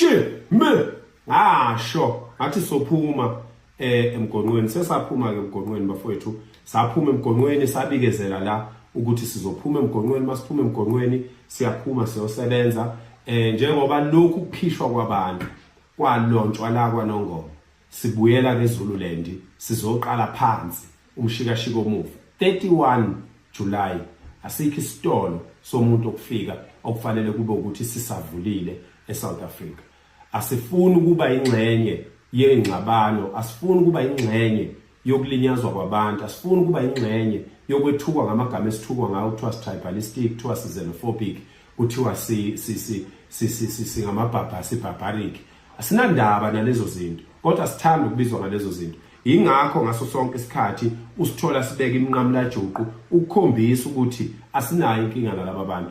shi me ngasho ngathi sophuma eh emgonqweni sesaphuma ke emgonqweni bafowethu saphuma emgonqweni sabikezela la ukuthi sizophuma emgonqweni masiphuma emgonqweni siyaphuma siyosebenza eh njengoba lokhu kuphishwa kwabantu kwalontshwa la kwanongoma Sibuyela kwiZululand sizoqala phansi umshikashiko omuva 31 July asikho isitolo somuntu okufika okufanele kube ukuthi sisavulile eSouth Africa asifuni ukuba ingxenye yengxabano asifuni ukuba ingxenye yokulinyazwa kwabantu asifuni ukuba ingxenye yokwethukwa ngamagama esithukwa ngawo kuthiwa si-tribalistic kuthiwa si-xenophobic kuthiwa singamabhabha si-barbaric asinandaba nalezo zinto kodwa sithanda ukubizwa ngalezo zinto yingakho ngaso sonke isikhathi usithola sibeka iminqamulajuqu ukukhombisa ukuthi asinayo inkinga nalaba bantu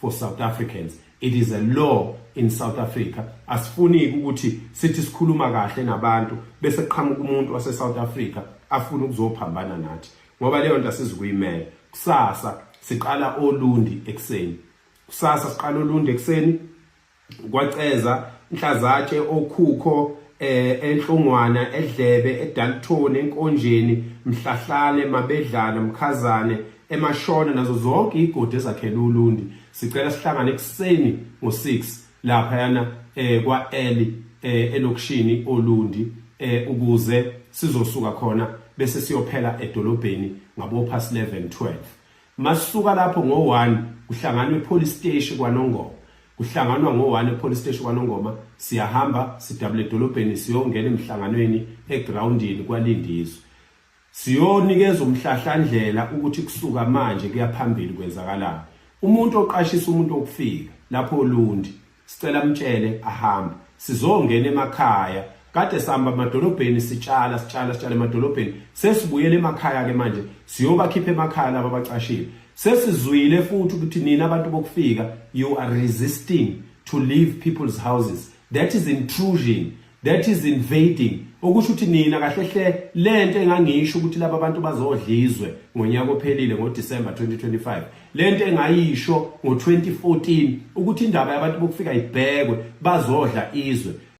for South Africans it is a law in South Africa asifuni ukuthi sithi sikhuluma kahle nabantu bese qhamuka umuntu wase South Africa afuna ukuzophambana nathi ngoba leyo nto asizukuyimela kusasa siqala olundi ekseni kusasa siqala olundi ekseni kwaCeza Nhlazatshe okhukho eh enhlungwana edlebe edalthoni enkonjeni mhlahlane mabedlana mkhazane emashona nazo zonke igodi ezakhela ulundi sicela sihlangane ekuseni ngo6 lapha yana eh kwa Eli eh elokishini olundi eh ukuze sizosuka khona bese siyophela edolobheni ngabo past 11 12 Masuka lapho ngo-1 kuhlanganwa epolice steshi kwaNongoma. Kuhlanganwa ngo-1 epolice steshi kwaNongoma, siyahamba sidabule edolobheni siyongena emhlanganweni egrawundini kwaLindizwe. Siyonikeza umhlahlandlela ukuthi kusuka manje kuya phambili kwenzakalani. Umuntu oqashisa umuntu okufika lapho olundi sicela mtshele ahambe sizongena emakhaya kade sihamba emadolobheni sitshala sitshala sitshala emadolobheni sesibuyele emakhaya ke manje siyobakhipha emakhaya laba bacashile sesizwile futhi ukuthi nina abantu bokufika you are resisting to leave people's houses that is intrusion that is invading okusho ukuthi nina kahle hle lento engangisho ukuthi laba bantu bazodlizwe ngonyaka ophelile ngoDecember 2025 lento engayisho ngo2014 ukuthi indaba yabantu bokufika ibhekwe bazodla izwe